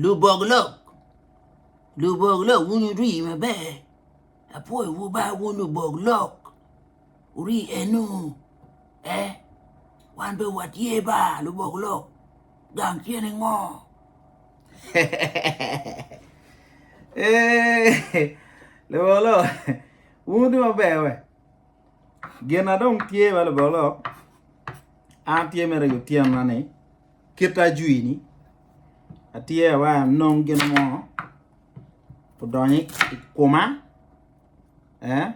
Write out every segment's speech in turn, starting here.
Lubok lok lubok lok wun wuri maber apwoyowu ba wun lubok lok wuri enu ee wan dong watye ba lubok lok gang tye ningo eeii lubok lok wun wutye maber wee gin na dong tye bene lubok lok an tye mere i otyeno na ni kite ajwi ni atye awa anong gin mo odonyo i kuma eh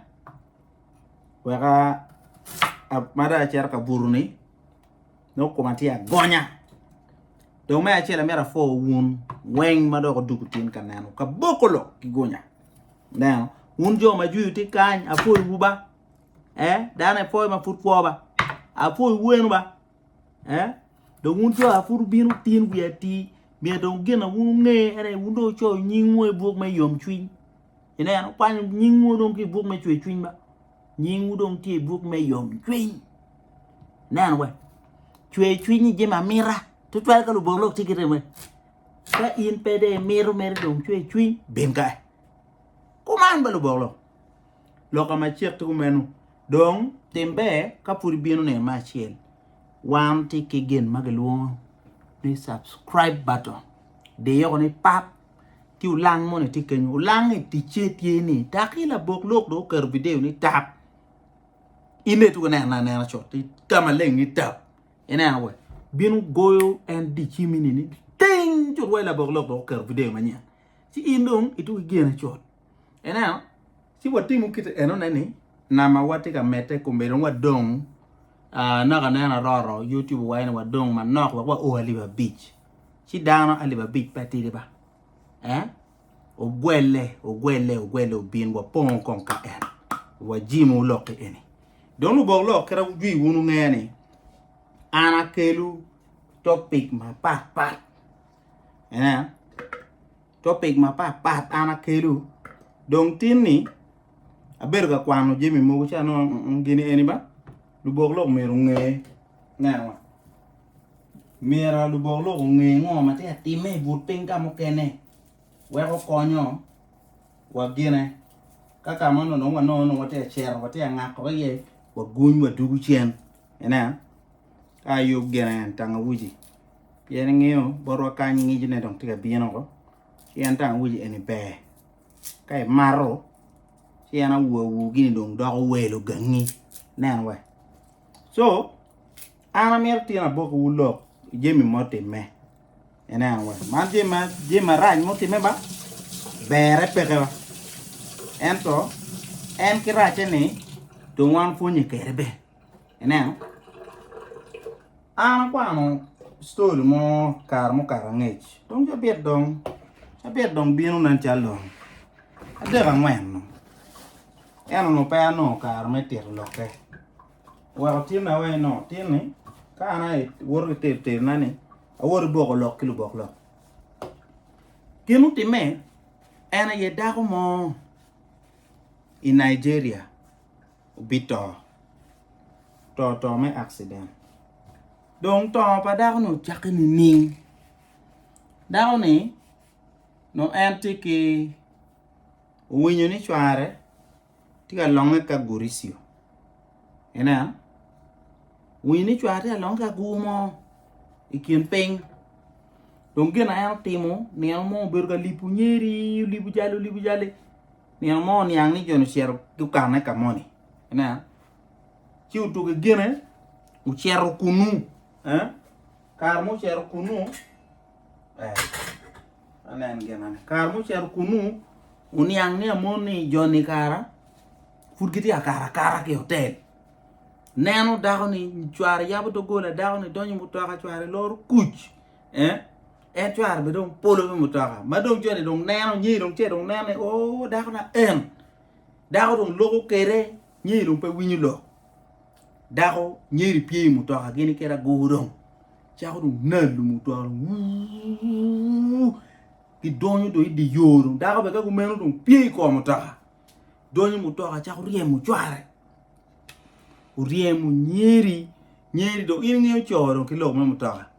weka ma dong acito ka buto ni nongo kuma tye agonya dong me acel amito apwo wun weng ma dok odwogo tin ka neno kaboko lok ki gunya ineno wun jo ma ajwi tye kany apwoyo wu ba eh dano ipwoyo ma pud kwo ba apwoyo wu enu ba. Eh? Dong wun jo a pud wubino wutin wiye atir, myero dong gin a wun wunge ene ni wun dong wucoyo nyingwu i buk me yomcwiny. Ineno, kwanyo nyingwu dong ki i buk me cwercwiny ba. Nyingwu dong tye i buk me yomcwiny. Ineno we, cwercwiny jami amita, tutwal ka Lubanga lok tye ki rem we. Ka in pe de imito mere dong cwercwiny, bin ka. Kuman ba Lubanga lok. Lok ka macek ki kumeno, dong tim ber ka pud ibino neno me acel. Wan tye ki gin ma kilwongo ni subscribe button. Diyo ko ni pap ki olang moni tye kenyo. Olang-ngi ticce tye ni taki labok lok dong oketo video ni tap. In dong ituko ineno anena cut ni ka maleng ni tap. Ineno wa bino goyo en dicimi ni ting cut wai labok lok dong oketo video manyen. Ci in dong ituko igene cut. Ineno? Ci watimo kite enone ni namawa tye ka medde kome dong wadong ah, naka aneno aroro YouTube owaco ni wadong manok wek wao alip abic. Ci dano alip abic pe tidi ba. Eh? Ogwelle, ogwelle, ogwelle obin wapongo kong ka en. Wajimo lok eni. Dong lubok lok kite wujwi wun wunge ni an akelu topic mapat pat. Ineno? topic mapat pat an akelu dong tin ni abedo ka kwano jami mogo ci anongo gini eni ba lubok lok myero onge me acama myero lubok lok onge ngo ma tye ka timme i but piny ka mukene wek okonyo wa gine ka ka ma nongo wanongo nongo watye ka cito watye ka ngako iye waguny wadugu cen ineno Ka ayub gene en tangawuji pien ingeyo botwa kany ngecne dong tye ka bino woko ci en tangawuji eni ber ka imato ci en awowa wu gini dong doko wel ogangi nen wa co an amito tye ni aboki wu lok jami ma otime ineno wa man jami marac ma otime ba bere peke wa ento en ki racce ni dong wan pwonye kede bene Ineno, an akwano ctori mo kare mukato angec, tung cabit dong, cabit dong bino nen calo lon adek angwen dong, ento onongo pe anongo kare me tito lokke, oweko tinna aye ni tinni ka an aye awoto ki tero terona ni awoto ki boko lok ki lubok lok, gin mutimme en aye dako mo i Nigeria. obito to to me accident dong to pa dako ni ocake nining dako ni nongo en tye ki owinyo ni cware tye ka longe ki aguricio ineno owinyo ni cware tye ka longe ki agur mo ikin ping dong gin ma en otimo nino mo obedo ka lipo nyeri olipo calo olipo cali Nino mo oniang ni jo-ni ocito gukanne ka moni. Ineno? Ci otugo i gine, ocito kunu. Eh? Kare ma ocito kunu, eh, anen ginane. Kare ma ocito kunu, oniang ni amon ni jo-ni kara pud gitye ka kara kara ki otel. Neno dako-ni, cware yabo dogola, dako-ni donyo i mutoka, cware loro kuc. Eh? en cware be dong polo me mutoka ma dong cone dong neno nyiri dong ce dong neno ni o dako na en dako dong loko kede nyiri dong pe winyo lok dako nyiri pye i mutoka gini kede agur dong cako dong nalo mutoka dong wuu gidonyo dong idi yo dong dako be ka kumeno dong pye i kom mutoka donyo mutoka cako ryemo cware oryemo nyiri nyiri dong in ingeyo co dong ki lok me mutoka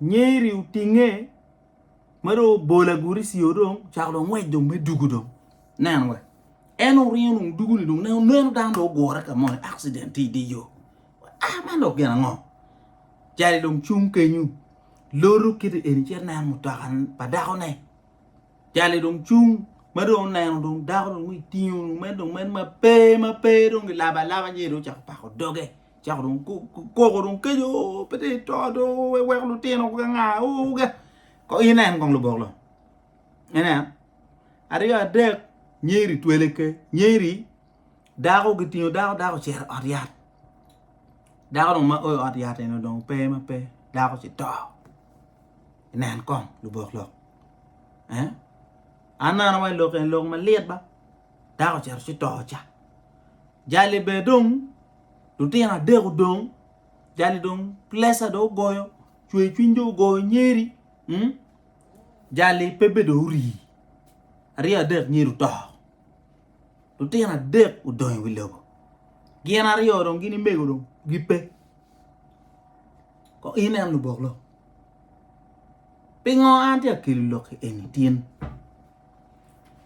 Nyeri otinge ma dong obolo agurici o dong ocako dong ngwec dong me dugu dong nen wa en oringo dong dugu ni dong neno dano dong ogure ka moni accident tye idye yo ah man dong gin ango cali dong cung kenyo loto kiti eni ci aneno mutoka pa dako ne cali dong cung ma dong oneno dong dako dong itingo dong meno dong meno ma pe ma pe dong gilabo alaba nyo dong ocako pako doge. cako dong koko dong keco oo pe dong ito do iweko lutino ka nga oo ka ko in en kong lubok long ineno aryo adek nyeri twele ke nyeri dako kitingo dako dako ocito i ot yat dako dong ma o i ot yat eno dong pe ma pe dako ci to nen kong lubok lok an neno wa i lok eni lok malit ba dako ocito ci to ca jali bene dong lutino adek odong jali dong pleca dong ogoyo cwer cwiny dong ogoyo nyeri jali pe bedo ori aryo adek nyeri oto lutino adek odong i wi lobo gin aryo dong gini mego dong gipe kong inen lubok lok pingo an tye ka kelo lok eni tin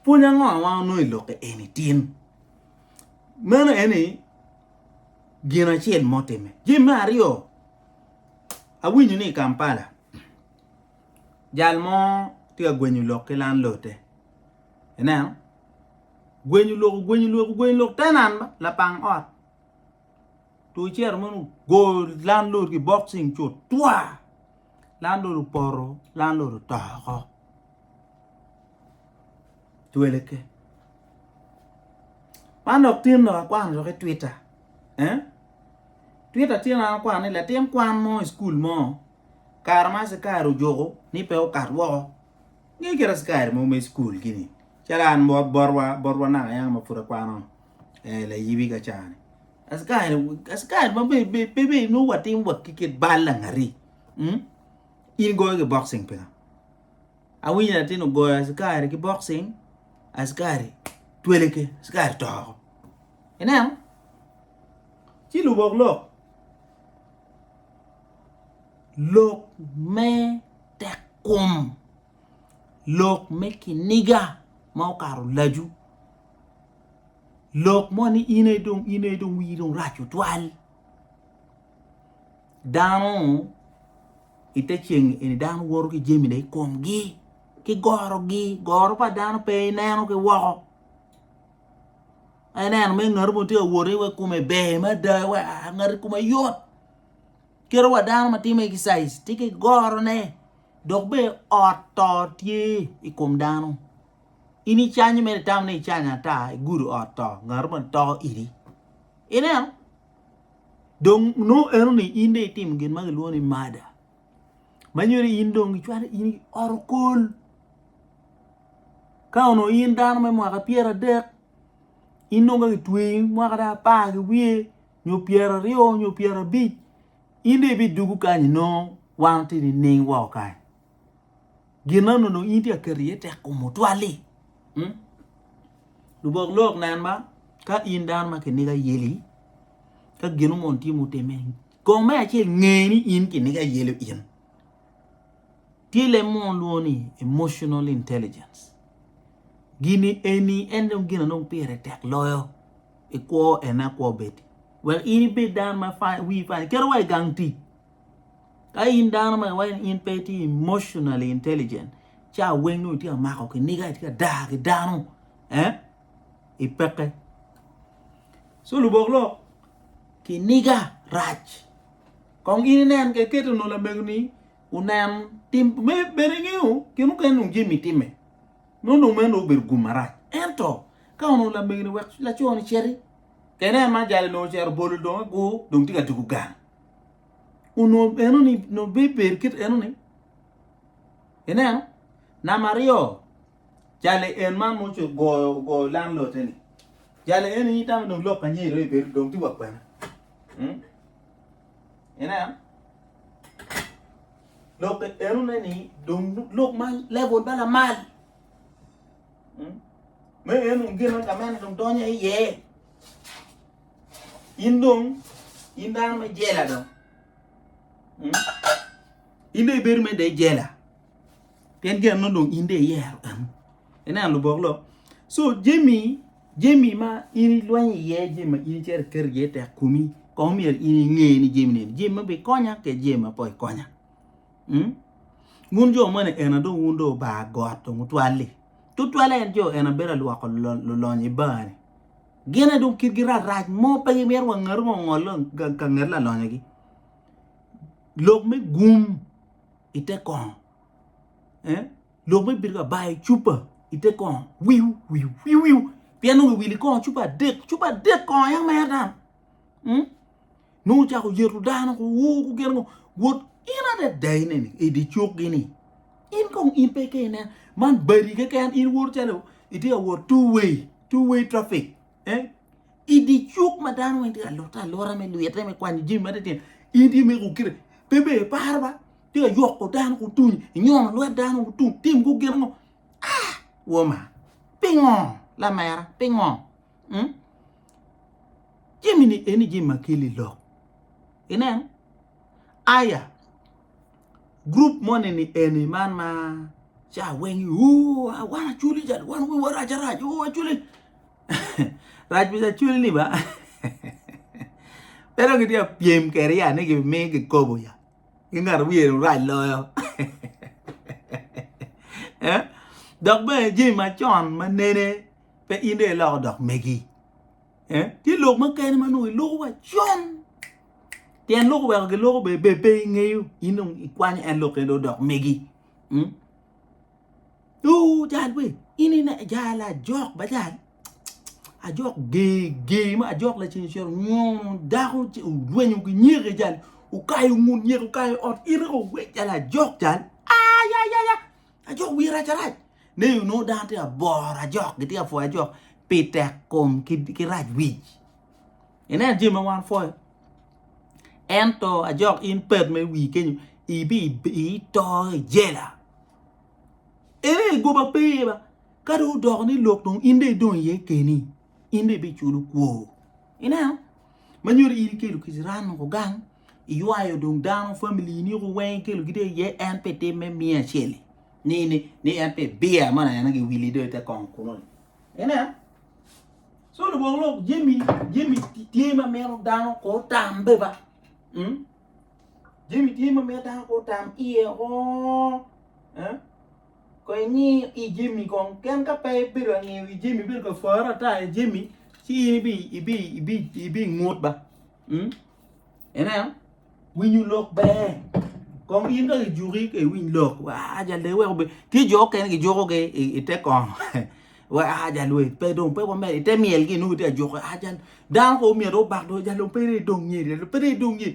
pwony ango ma wanongo i lok eni tin. Meno en ni gin acel mo time. Jami me aryo, awinyo ni i Kampala jal mo tye ka gwenyo lok ki lanlote. Ineno? Gwenyo lok, ogwenyo lok, ogwenyo lok, tenan ba, lapang ot. Tu cito meno ogo landlord ki boxing cut twa! Landlord opoto, landlord oto oko. twele ke man dok tin dok akwano dok i twita eh twita tye ma akwano ni latin kwan mo i cukul mo kare ma askari ojuko ni pe okat woko nge kit askari mo me cukul gini calo an bot botwa botwa naka yam ma pud akwano eh layibi ka ca ni askari askari ma be be pe be nongo watimo wa ki kit bal langati in igoyo ki bokcing pingo Awinyo latin ogoyo askari ki boxing, askari twelege, askari to oko. Ineno? Ci lubok lok. Lok me tekkom, lok me kiniga ma okato lacu, lok mo ni in aye dong, in aye dong wii dong rac tutwal. dano i te ceng eni dano woto ki jamine i komgi ki gorogi goro pa dano pe ineno ki woko ineno me ngati mo tye ka wot iwe kome ber mada iwe aa ngati kome yot kadi wa dano ma timo exercise tye ki gorone dok bene ot to tye i kom dano in icanyo mere itamo ni icanyo ata igudo ot to ngati moni to idi ineno dong nongo eno ni in dong itimo gin ma kilwongo ni mada ma nyuto ni in dong icwalo in oro kol ka onongo in dano me mwaka adek in dong ka kitweyi mwaka dong apar ki wiye nyo pyeraryo nyo pyerabic in dong ibidwogo kany nongo wan watye nining woko kany. Gin anunu in itye ka keto iye tekkom otwal-li? Lubok lok nen ma ka in dano ma kiniga ayeli ka ginu mono tye mutimme kong me acel nge ni in kiniga ayelo in tye leb mo lwongo ni emotional intelligence gini eni en dong gin anong pire tek loyo ikwo ene akwo bedi wek in ibed dano ma wi pa iketo wa i gang tic Ka in dano ma iwaco ni in pe itye emotionally intelligent, ci aweng nongo itye ka mako kiniga, itye ka daa ki dano, eh? Ipekke. So lubok lok, kiniga rac. Kong in inen ka iketo nongo lamegoni onen tim me bene ingeyo gin mukene nongo Jimmy timme. Nongo dong meno obedo gum marac. Ento ka onongo lamegoni wek laco ni citi, kene ma jali nongo ocito bolo dong agur dong tye ka tugo gang. onongo enoni onongo bebedo kit enoni ineno namba aryo jali en ma ma ogoyo ogoyo lam lote-ni jali eni tamo dong lok aniya dong ebedo dong tye wa kwena ineno lok enoni dong lok ma lebol ma lamal me en dong gine ka mene dong donyo iye. In dong, in dano me jela dong. Hmm? In dong ibedo me dee jela. Pien gin anongo dong in dong iyero en. Ineno lubok lo. So jemi, jemi ma in ilwenyo iye, jemi ma in icito iketo iye tek kumi, kong myero in inge ni jemi neni. Jemi ma bikonya ke jemi ma po ikonya. Hmm? Wun jo moni ena dong wun dong oba got dong otwali. Tutwale en jo ena bedo alwoko lulonyo i bar ni. Gin aye dong kitgi rac rac mo pe gimito wa ngatu mo ongol ka nget lalonyagi. Lok me gum i te kongo, eh? lok me bito ka bayo cupa i te kongo, wiu wiu wiu wiu pien nongo iwili kongo cupa adek, cupa adek kongo aye mera tam. Mm? Nongo ocako yeto dano ko, woo gugen ngo wot in adada ine ni i di cuk gi ni in kong in pe ke inen man badi keken in wot calo itye ka wot two way two way traffic eh i di cuk ma dano weng tye ka lotte alota me lwite me kwanyo jimi ma titino in tye meko kire pe be iparo ba tye ka yoko dano ko tung inyono lwet dano ko tung tim ko gin ngo ah woma pingo lamera pingo hmm? jami-ni eni jami ma kelo i lok inen aya group moni ni eni man ma ca weng "Ooh, ah, wan aculi cal wan wiwa rac arac o aculi rac pi aculi ni ba pe dong gitye ka pyem kwede ya ni gimi kikobo ya ki ngat ma wiye dong rac loyo Eh? dok bene jami macon ma nene pe in dong iloko dok megi eh? tye lok makene ma nongo iloko wa con tyen loko weko giloko be be pe ingeyo in dong ikwanyo en lok kene dok megi hmm? Ooh, jal we in ine jal ajok ba jal ajok gee gee ma ajok laceng cito nyono dako ci olwenyo ki nyeke jal ukayo ngut nyeke ukayo ot in iko we jal ajok jal ayayaya Ajok wiye rac arac ne yo nongo dano tye aboro ajok gitye ka pwoyo ajok pi tek kom ki rac wic ineno jami ma wan wapwoyo ento ajok in pet ma iwir kenyo ito i jela eno aye goba pe iye ba ka dong odoko ni lok dong in dong idong iye keni in dong ibiculo kwor. Ineno? Ma nyuto in ikelo kic ran woko gang, iywayo dong dano, family-ni woko weng ikelogi dong iye, en pe itim me miye acel-li, ni en pe ibiye amo nene giwili dong ite kongo kunu-ni. Ineno? Co lubwok lok jami jami tye ma mito dano ko otam be ba. Mm? Jami tye ma mito dano ko otam iye oo. Eh? Kong ingi i jami kong pien ka pe ibedo ka ngiyo i jami ibedo ka pworo ata i jami ci in ibingut ba ineno winyo lok ber kong in dong ijuki ka iwiny lok aa jal dong iweko bedo tye jo mukene kijukogi i te kongo weko aa jal dong pe dong pe wamed i te myel gi nongo kitye ka juko dano kong omyero obak dong jal dong pe dong myero pe dong myel.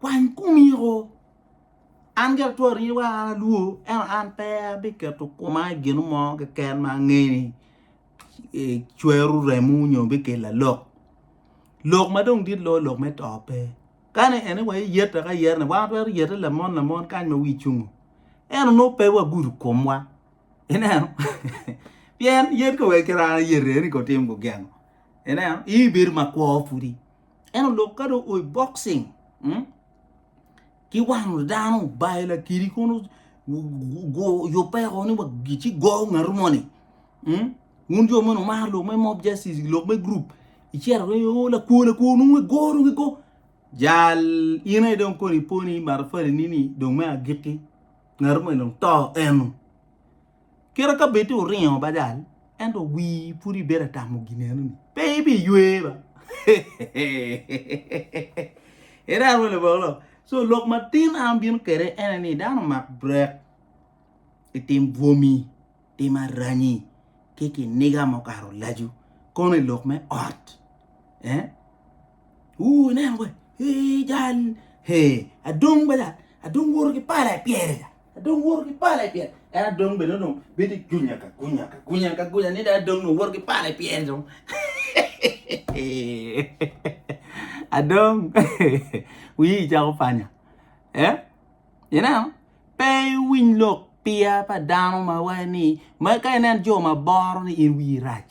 Kwany kumiko. An ki atwero ni wek an alwor, ento an pe abiketo koma i gino mo keken ma angeyo ni cwero remo nyo bikelo alok. Lok ma dong dit loyo lok me to pe. Kani en ni wa iyete ka iyete ni wan watwero yete lamon lamon kany ma wi cungo. Ento nongo pe wagudo komwa. Ineno? Pien yet ko wek kit an ayete ni kotim gugeno. Ineno? Ii bedo makwo pudi. en olok ka dong oi boxing hmm? ki wano dano bayo lakiri kono yopeko ni wagici go ngatu moni hmm? wun jo meno mar lok me mob justice lok me group icero ni o oh, lakwo lakwo nung we go nung go jal in aye dong koni poni matafali nini dong me agiki ngatu moni dong to eno Kira ka bed ni wuringo badal, ento wii pud ibedo ka tamo ginenoni, pe ibiywe ba. Iran wa labongo. So lok matin an bino kede ene ni dano mak brek itim bwomi, tim aranyi ki kiniga ma okato lacu kono i lok me ot. Eh? Uu ineno we, ee jal, he, adong badal, adong woro ki pala ipyere. Adong woto ki pale pien en adong bene dong bedo i gunya ka gunya ka gunya ka gunya ni dong adong dong woto ki pale pien dong adong wiyi cako panya eh ineno pe iwiny lok piya pa dano ma waco ni ma ka inen jo ma boro ni in wiyi rac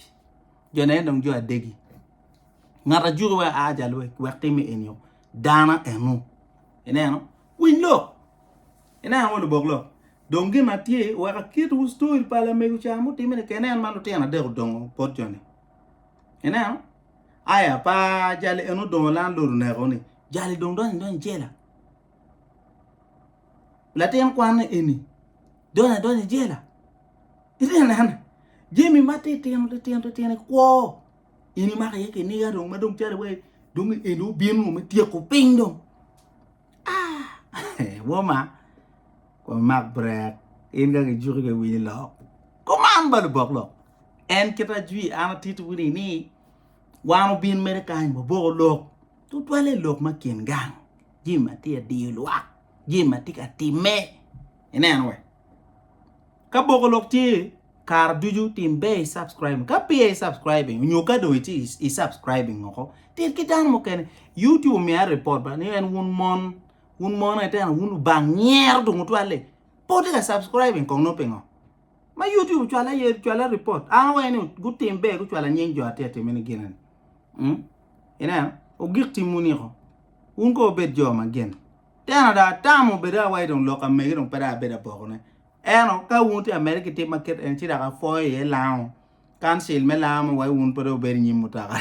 jone en dong jo adegi ngat ajuki wek aa ca lwec wek time enio dano eno ineno Winy lok, inen ango lubok lok? Dong gin ma tye, weka kitwu story pa lamego ca mutime ni kene en ma lutino adek odongo bot joni. Ineno? Aya pa jali en odongo lan lor oneko ni jali dong donyo donyo jela. Latin kwan eni donyo donyo jela. Ine nen, jemi ma titino titino titino ikwo ini mako iye kiniga dong ma dong cali wai dong eni obino me tyeko piny dong. Woma wamak brek in ka kijuki pe winy lok kuman ba lubok lok en kit ajwi an atiti wu ni ni wan obin mere kany waboko lok tutwalle lok ma kin gang jami ma tye adiyo lwak jami ma tye ka timme ineno wa. Ka boko lok tye kare ducu tim ber i subscribing ka peya i subscribing nyo ka dong itye i subscribing woko tit ki dano mukene YouTube omiyo aye report ba ni en wun mon wun mon eteno wun lubang nyero dong otwalle pe wutye ka subscribing kong nongo pingo ma YouTube ocwalo aye cwalo report an awaye ni gutim ber gucwalo anying jo atye atime ni gine ni ineno ogik timwu niko wun kong wubed jo ma gene. Tena dong atamo bedo awaci dong lok amege dong pe dong abedo abokone. Ento ka wun wutye ka medde ki tim ma kit eni ci dok apwoyo iye lango kancil me lango me wai wun pe dong wubedo inyim mutoka.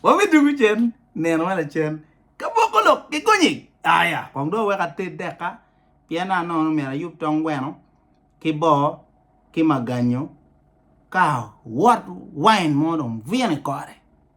Wabidwogo cen nino ma lacen ka boko lok ki gonyi aya kong dong wawek ated deka pien naka nono myero ayub tong gweno ki boo ki maganyo ka wot wain mo dong bwino i kore.